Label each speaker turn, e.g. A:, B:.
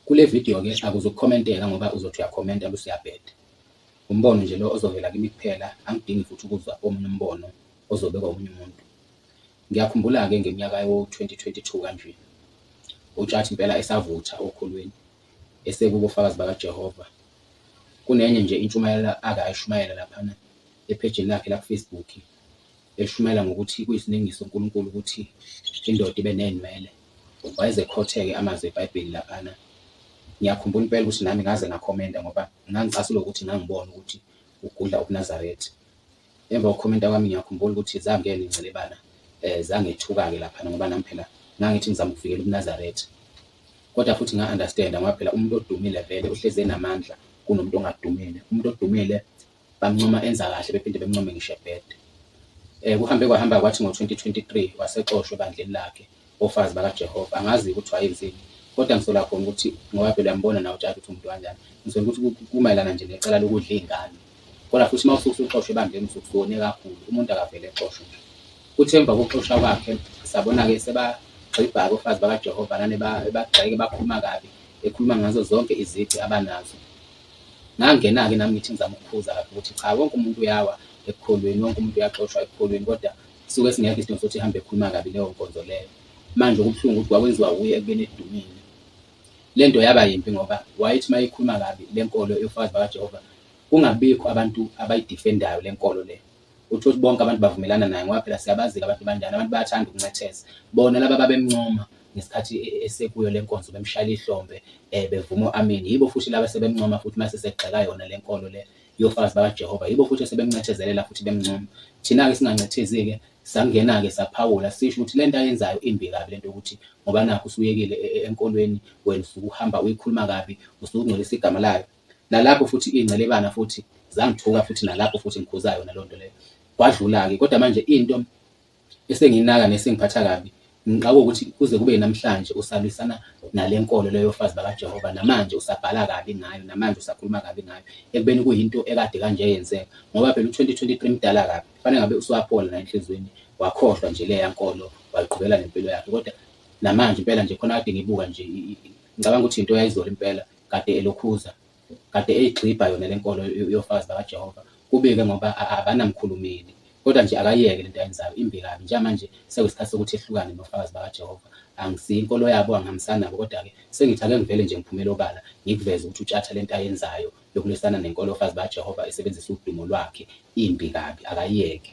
A: Kule video ke akuzukukhomenteka ngoba uzothi uyakhomenta bese uyabheda. Umbono nje lo ozovela kimi kuphela, angidingi futhi ukuzwa omunye umbono ozobekwa omunye umuntu. Ngiyakhumbula-ke ngeminyaka yawo-2022 kanje, uTshatha impela esavutha okhulwini, esekubo Fakazi BakaJehova. Kunenye nje intshumayelo ake ayishumayela laphana ephejini lakhe lakuFacebook. Eshumayela ngokuthi kuyisiningi soNkulunkulu ukuthi indoda ibe neynwele, wayeze ekhotheke amazwi eBhayibheli laphana. Ngiyakhumbula impela ukuthi nami ngaze ngakhomenta ngoba ngangicasulwa ukuthi ngangibona ukuthi ugudla ubuNazaretha. Emva kokukhomenta kwami ngiyakhumbula ukuthi zangena incelebana eh zangethuka-ke laphana ngoba nami phela ngangithi ngizama ukuvikela ubuNazaretha. Kodwa futhi nga understand ngoba phela umuntu odumile vele uhlezi enamandla kunomuntu ongadumile. Umuntu odumile Bamncoma enza kahle bephinde bemncome ngisho ebheda. Um kuhambe kwahamba kwathi ngo-2023 wasexoshwa ebandleni lakhe oFazi BakaJehova. Angazi-ke ukuthi wayenzeni kodwa ngisola khona ukuthi ngoba phela uyambona nawe uJaji ukuthi umuntu kanjani. Ngisola ukuthi kumayelana nje necala lokudla iy'ngane. Kodwa futhi uma usuke usuxoshwa ebandleni usuke usone kakhulu, umuntu akavele exoshwe nje. Kuthe emva kokuxoshwa kwakhe sabona-ke sebagxibha-ke oFazi BakaJehova nane ebagxeka ebakhuluma kabi, ekhuluma ngazo zonke izici abanazo. Ngangena-ke nami ngithi ngizama ukuphuza lapho ukuthi cha wonke umuntu uyawa ekukholweni, wonke umuntu uyaxoshwa ekukholweni kodwa suke singekho isidingo sokuthi ihambe ekhuluma kabi leyo nkonzo leyo. Manje okubuhlungu ukuthi kwakwenziwa wuye ekubeni edumile. Le nto yaba yimbi ngoba wayethi uma eyikhuluma kabi le nkolo yoFakazi BakaJehova kungabibikho abantu abayidifendayo le nkolo le. Uthi uthi bonke abantu bavumelana naye ngoba phela siyabazika abantu banjani, abantu bayathanda ukuncetheza. Bona laba ababemncoma ngesikhathi e, e, esekuyo le nkonzo bemshayela ihlombe um bevuma u-amini yibo futhi laba sebemncoma futhi mase segxeka yona le nkolo le yofakazi bakajehova yibo futhi esebemncethezelela futhi bemncoma thina-ke singancethezi-ke sangena-ke saphawula sisho ukuthi le nto ayenzayo imbi kabi le nto yokuthi ngoba nakho usuyekile e, enkolweni wena usuke uhamba uyikhuluma kabi usuke ungcolisa igama layo nalapho futhi ingcelebana futhi zangithuka futhi nalapho futhi ngikhuza yona lonto leyo kwadlula-ke kodwa manje into esengiyinaka nesengiphatha kabi ngixaka ukuthi kuze kube namhlanje usalwisana nale nkolo leyo fazi bakajehova namanje usabhala kabi ngayo namanje usakhuluma kabi ngayo ekubeni kuyinto ekade kanje yenzeka ngoba phela u-2023 mdala kabi kufanele ngabe usuwapola la enhliziyweni wakhohlwa nje leya nkolo wayiqhubela nempilo yakhe kodwa namanje impela nje khona kade ngibuka nje ngicabanga ukuthi into yayizolo impela kade elokhuza, kade eyigxibha yona le nkolo yoFakazi BakaJehova, kubi-ke ngoba abanamkhulumeli. Kodwa nje akayeke le nto ayenzayo, imbi kabi. Njengamanje sekuyisikhathi sokuthi ehlukane noFakazi BakaJehova. Angisiyo inkolo yabo, angihambisani nabo, kodwa-ke sengithi ake ngivele nje ngiphumele obala, ngikuveze ukuthi uTshatha le nto ayenzayo yokulwisana nenkolo yoFakazi BakaJehova esebenzisa udumo lwakhe, imbi kabi. Akayeke.